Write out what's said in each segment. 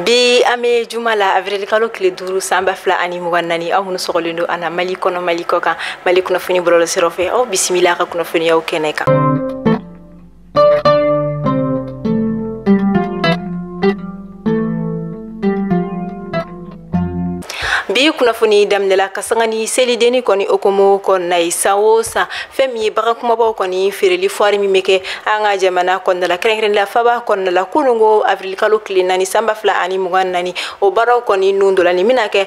bi an bɛ juma la avril kalo tile duuru san ba fila ani mugan naani aw minnu sɔgɔlen don an na mali kɔnɔ mali kɔkan mali kunnafoni bɔlɔlɔsiraw fɛ aw bisimila ka kunnafoniyaw kɛnɛ kan bi kunnafoni daminɛla ka sanga ni selidenni kɔni hukumu kɔnɔna ye san o san fɛn min ye bagan kumabaw kɔni feereli foire min bɛ kɛ an ka jamana kɔnɔna la kɛrɛnkɛrɛnnenya faba kɔnɔna la kunun ko avril kalo tile naani sanba fila ani mugan naani o baaraw kɔni nun dɔ la nin bɛna kɛ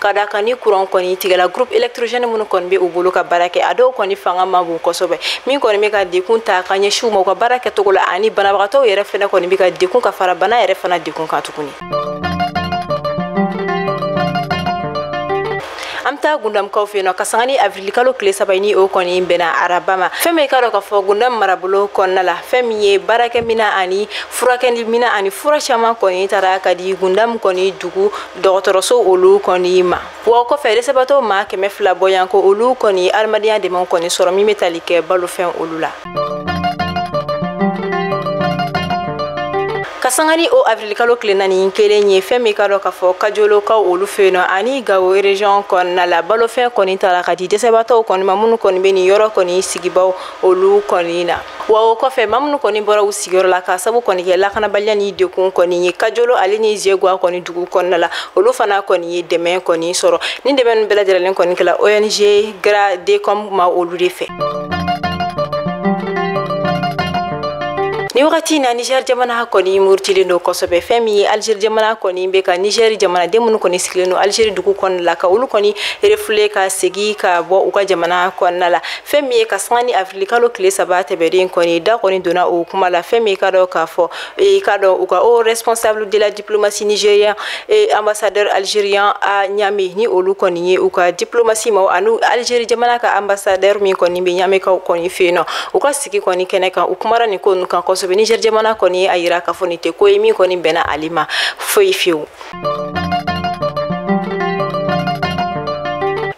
ka da a kan ni kuran kɔni tigɛla groupe électrogène minnu kɔni bɛ u bolo ka baara kɛ a dɔw kɔni fanga ma bon kosɛbɛ min kɔni bɛ ka dekun ta ka ɲɛsin u ma u ka baara kɛcogo la ani banabagatɔw yɛrɛ fana kɔni bɛ ka dekun ka fara bana yɛrɛ fana dekun kan tuguni an bɛ taa gundamkaw fɛ yen nɔ kasanga ni avirilikalo tile saba ni o kɔni bɛnna araba ma fɛn min i k'a dɔn k'a fɔ gundam marabolo kɔnɔna la fɛn min ye baarakɛmina ani furakɛlimina ani fura caman kɔni taara ka di gundam kɔni dugu dɔgɔtɔrɔso olu kɔni ma wa o kɔfɛ dɛsɛbatɔ maa kɛmɛ fila bɔɲɔgɔnko olu kɔni adamadenya dɛmɛ kɔni sɔrɔ min bɛ tali kɛ balofɛn olu la ka sanga ni o avirilikalo tile naani kelen ye fɛn min k'a dɔn k'a fɔ kajolokaw olu fɛ yen nɔ ani gawo region kɔnɔna la balofɛn kɔni taara ka di dɛsɛbatɔw kɔni ma minnu kɔni bɛ nin yɔrɔ kɔni sigibaw olu kɔni na wa o kɔfɛ maa minnu kɔni bɔra u sigiyɔrɔ la ka sabu kɔni kɛ lakanabaliya ni dekun kɔni ye kajolo ale ni zegwa kɔni dugu kɔnɔna la olu fana kɔni ye dɛmɛ kɔni sɔrɔ nin dɛmɛ ninnu bɛɛ lajɛlen kɔni kɛla ong gradecom maa olu de fɛ nin wagati na niger jamana kɔni murutilen don kosɛbɛ fɛn min ye algérie jamana kɔni bɛ ka niger jamanaden minnu kɔni sigilen don algérie dugu kɔnɔna la ka olu kɔni refouler ka segi ka bɔ u ka jamana kɔnɔna la fɛn min ye ka sanga ni afirilikalo tile saba tɛmɛnen kɔni da kɔni donna o kuma la fɛn min k'a dɔn k'a fɔ i k'a dɔn u ka o responsable de la diplomatie nigérien et ambassadeur algérien à ɲame ni olu kɔni ye u ka diplomatie maa ani algérie jamana ka ambassadeur min kɔni bɛ ɲamekaw kɔni fɛ yen nɔ u ka sigi kɔni kɛnɛ kan u kumara nin ko ninnu kan kosɛbɛ niger jamana kɔni ye a yira k'a fɔ nin tɛ ko ye min kɔni bɛnna ale ma foyi fewu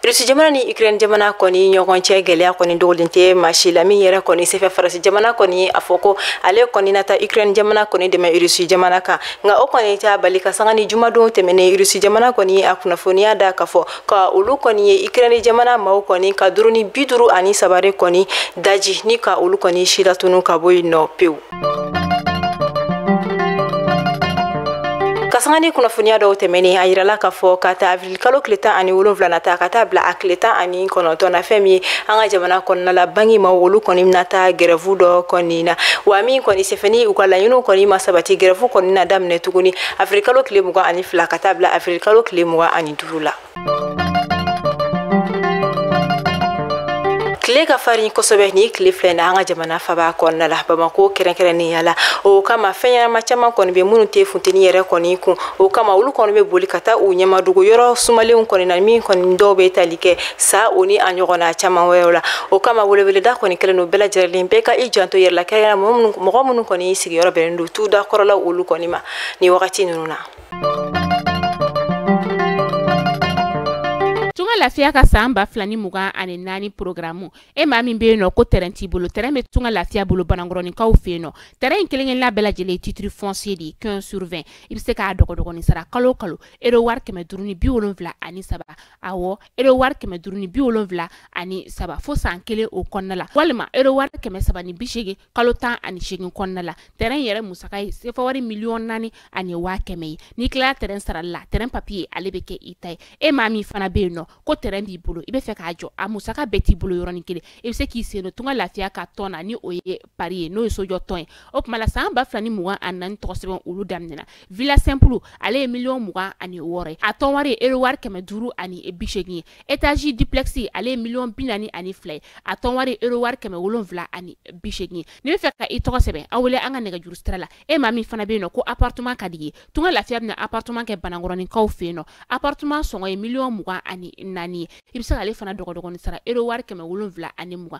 Rusi jamana ni Ukraine jamana kɔni ɲɔgɔn cɛ gɛlɛya kɔni dogolen tɛ maa si la min yɛrɛ kɔni sen fɛ faransi jamana kɔni ye a fɔ ko ale kɔni na taa Ukraine jamana kɔni dɛmɛ Rusi jamana kan nka o kɔni t'a bali ka sanga ni jumadon tɛmɛnen Rusi jamana kɔni ye a kunnafoniya da k'a fɔ ka olu kɔni ye Ukraine jamana maaw kɔni ka drone bi duuru ani saba de kɔni daji ni ka olu kɔni silatunu ka bɔ yen nɔ pewu k'a sanga ni kunnafoniya dɔw tɛmɛnen a yirala k'a fɔ k'a ta avirilikalo tile tan ani wolonfila na ta ka taa bila a tile tan ani kɔnɔntɔn na fɛn min ye an ka jamana kɔnɔna la banki maaw olu kɔni bɛna taa gɛrɛfu dɔ kɔni na wa min kɔni senfɛ ni u ka laɲiniw kɔni ma sabati gɛrɛfu kɔni na daminɛ tuguni avirilikalo tile mugan ani fila ka taa bila avirilikalo tile mugan ani duuru la tile ka farin kosɛbɛ nin tile fila in na an ka jamana faba kɔnɔna la bamako kɛrɛnkɛrɛnnenya la o kama fɛn ɲɛnama caman kɔni bɛ minnu tɛ funteni yɛrɛ kɔni kun o kama olu kɔni bɛ boli ka taa u ɲɛmadogo yɔrɔ sumalenw kɔni na min kɔni dɔw bɛ tali kɛ sa o ni a ɲɔgɔnna caman wɛrɛw la o kama weleweleda kɔni kɛlen don bɛɛ lajɛlen bɛɛ ka i janto yɛrɛ la kɛrɛnkɛrɛnnenya mɔgɔ minnu kɔni sigiyɔrɔ bɛnnen don tu da kɔrɔ la olu kɔni ma nin wagati ninnu na tunga lafiya ka san ba fila ni mugan ani naani porogaramu e maa min be yen nɔ ko tɛrɛn t'i bolo tɛrɛn be tunga lafiya bolo banankɔrɔninkaw fɛ yen nɔ tɛrɛn in kelenkelenna bɛɛ lajɛlen titiri fɔnsiye de ye quinze sur vingt i be se k'a dɔgɔdɔgɔnin sara kalo kalo ero wari kɛmɛ duuru ni bi wolonfila ani saba awɔ ero wari kɛmɛ duuru ni bi wolonfila ani saba fo san kelen o kɔnɔna la walima ero wari kɛmɛ saba ni bi segin kalo tan ani segin kɔnɔna la tɛrɛn yɛrɛ musaka ye sefa wari miliyɔn naani ani waa kɛmɛ ye n'i tilala tɛrɛn sarali la tɛrɛn papiye ale bɛ kɛ i ta ye e maa min fana bɛ yen nɔ ko tɛrɛn b'i bolo i bɛ fɛ k'a jɔ a musaka bɛɛ t'i bolo yɔrɔnin kelen i bɛ se k'i sen don tunga lafiya ka tɔn na ni o ye pari ye n'o ye sojɔ tɔn ye o tuma la san ba fila ni mugan ani naani tɔgɔsɛbɛn olu daminɛna villa simple ale ye miliyɔn mugan ani wɔɔrɔ ye a tɔn wari ye euro wari kɛmɛ duuru ani bi seegin ye étage duplex ale ye miliyɔn bi naani ani fila ye a tɔn wari ye euro wari kɛmɛ wolonwula ani bi seegin ye n'i bɛ fɛ ka i tɔgɔ sɛbɛn an wele an ka nɛgɛjuru sira la e maa min fana bɛ yen nɔ ko appartement ka d'i ye tunga lafiya bɛna appartement kɛ banankɔrɔninkaw fɛ yen nɔ appartement sɔngɔ ye miliyɔn mugan ani naani ye i bɛ se k'ale fana dɔgɔdɔgɔnin sara euro wari kɛmɛ wolonwula ani mugan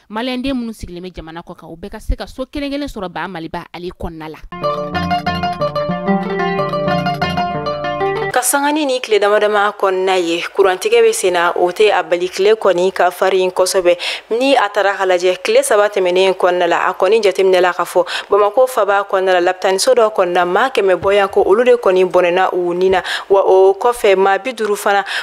maliyɛnden minnu sigilen bɛ jamana kɔkan u bɛɛ ka se ka so kelen kelen sɔrɔ ba maliba ale kɔnɔna la k'a sanga ni nin tile dama dama kɔnɔna ye kurantigɛ bɛ sen na o tɛ a bali tile kɔni ka farin kosɛbɛ ni a tara ka lajɛ tile saba tɛmɛnen kɔnɔna la a kɔni jateminɛla k'a fɔ bamakɔ faba kɔnɔna la lapitaniso dɔ kɔnɔna maa kɛmɛ bɔɲɔgɔnko olu de kɔni bɔnɛna u ni na wa o kɔfɛ maa bi duuru fana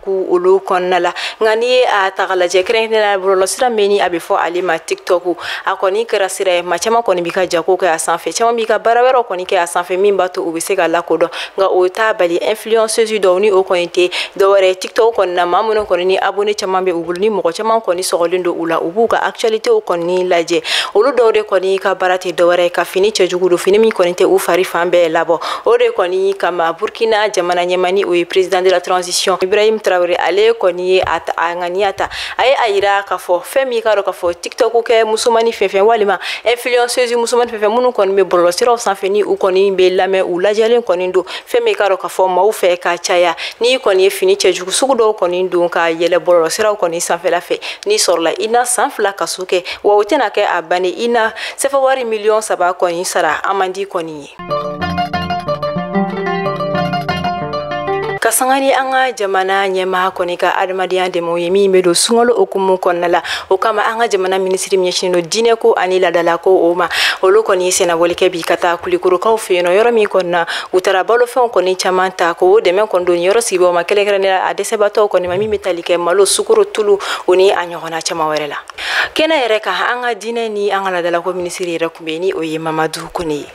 ko olu kɔnɔna la nka n'i ye a ta ka lajɛ kɛrɛnkɛrɛnnenya bɔlɔlɔsira min ni a bɛ fɔ ale ma tiktok a kɔni kɛra sira ye maa caman kɔni bɛ ka jago kɛ a sanfɛ caman bɛ ka baara wɛrɛw kɔni kɛ a sanfɛ min b'a to u bɛ se ka lakodɔn nka o t'a bali influenceuse dɔw ni o kɔni tɛ dɔwɛrɛ ye tiktok kɔni na maa minnu kɔni ni abonné caman bɛ u bolo ni mɔgɔ caman kɔni sɔgɔlen don u la u b'u ka actualitéw kɔni lajɛ olu dɔw de kɔni ka baara tɛ dɔwɛrɛ ye ka fini cɛjugu don fini min kɔni tɛ u fari fan bɛɛ labɔ o de kɔni kama burkina jamana ɲɛmani o ye président de la transition ibrahim traoré ale kɔni ye a ŋaniya ta a ye a yira k'a fɔ fɛn min ka dɔn k'a fɔ tiktok kɛ musomani fɛn fɛn walima influenceuse musomani fɛn fɛn minnu kɔni bɛ bɔlɔlɔ siraw sanfɛ ni u kɔni bɛ lamɛn u lajɛlen kɔni don fɛn min ka dɔn k'a fɔ maaw fɛ ka caya n'i kɔni ye fini cɛjugu sugu dɔw kɔni don ka yɛlɛ bɔlɔlɔ siraw kɔni sanfɛla fɛ n'i sɔrɔla i na san fila kaso kɛ wa o tɛna kɛ a bannen i na sefawari miliyɔn saba kɔni sara amandi kɔni ye ka sanga ni an ka jamana ɲɛmaa kɔni ka adamadenya dɛmɛw ye min bɛ don sunkalo hukumu kɔnɔna la o kama an ka jamana minisiri min ɲɛsinnen don diinɛ ko ani ladala ko o ma olu kɔni ye sennabɔli kɛ bi ka taa kulikorokaw fɛ yen nɔ yɔrɔ min kɔni na u taara balofɛnw kɔni caman ta k'o dɛmɛ kɔni don nin yɔrɔ sigibaaw ma kɛrɛnkɛrɛnnenya a dɛsɛbaatɔw kɔni ma min bɛ tali kɛ malo sukoro tulu o ni a ɲɔgɔnna caman wɛrɛ la kɛnɛ yɛrɛ kan an ka diinɛ ni an ka ladalako minisiri yɛrɛ tun bɛ ni o ye mamadu kone ye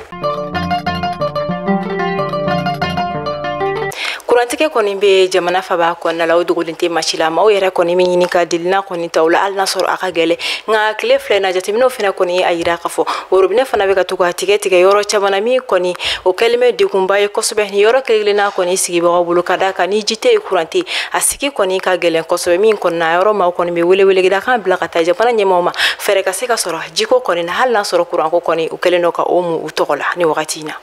kurantigɛ kɔni bɛ jamana faba kɔnɔna la o dogolen tɛ maa si la maaw yɛrɛ kɔni bɛ ɲini ka delina kɔni ta la hali n'a sɔrɔ a ka gɛlɛn nka tile fila in na jateminɛw fana kɔni y'a yira ka fɔ worobinɛ fana bɛ ka to ka tigɛ tigɛ yɔrɔ caman na min kɔni o kɛlen bɛ degunba ye kosɛbɛ ni yɔrɔ kelen-kelenna kɔni sigibagaw bolo ka d'a kan ni ji tɛ yen kuran tɛ a sigi kɔni ka gɛlɛn kosɛbɛ min kɔni na yɔrɔ maaw kɔni bɛ weleweleda kan bila ka taa jamana ɲɛmaaw ma fɛɛrɛ ka se ka sɔrɔ jiko kɔni na hali n'a sɔrɔ kuranko kɔni u kɛlen don ka o mu u tɔgɔ la ni wagati in na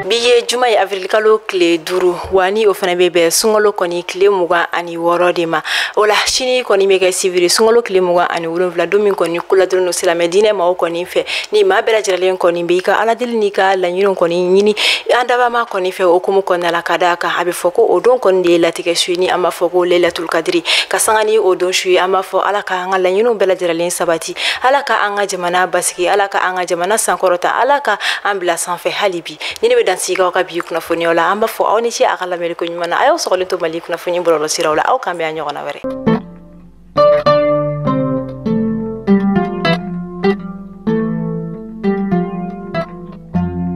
bi ye juma ye avril kalo tile duuru wa ni o fana bɛ bɛn sunkalo kɔni tile mugan ani ni wɔɔrɔ de ma o la sini kɔni bɛ kɛ sibiri sunkalo tile mugan ani wolonwula don min kɔni ko ladɔnnen don silamɛ diinɛ maaw kɔni fɛ ni maa bɛɛ lajɛlen kɔni bɛ i ka ala deli n'i ka laɲiniw kɔni ɲini an dabaa maa kɔni fɛ o hukumu kɔnɔna la ka d'a kan a bɛ fɔ ko o don kɔni de ye latigɛ su ye ni an b'a fɔ ko lailatul kadiri ka sanga ni o don su ye an b'a fɔ ala ka an ka laɲiniw bɛɛ lajɛlen sabati ala ka an ka jamana basigi ala ka an ka jamana sankɔrɔta ala ka an bila sanfɛ hali bi nin de bɛ dan sigi aw ka bi kunnafoniw la an b'a fɔ aw ni ce a ka lamɛnni ko ɲuman na a y'aw sɔgɔlen to mali kunnafoni bɔlɔlɔ siraw la aw k'an bɛn a ɲɔgɔnna wɛrɛ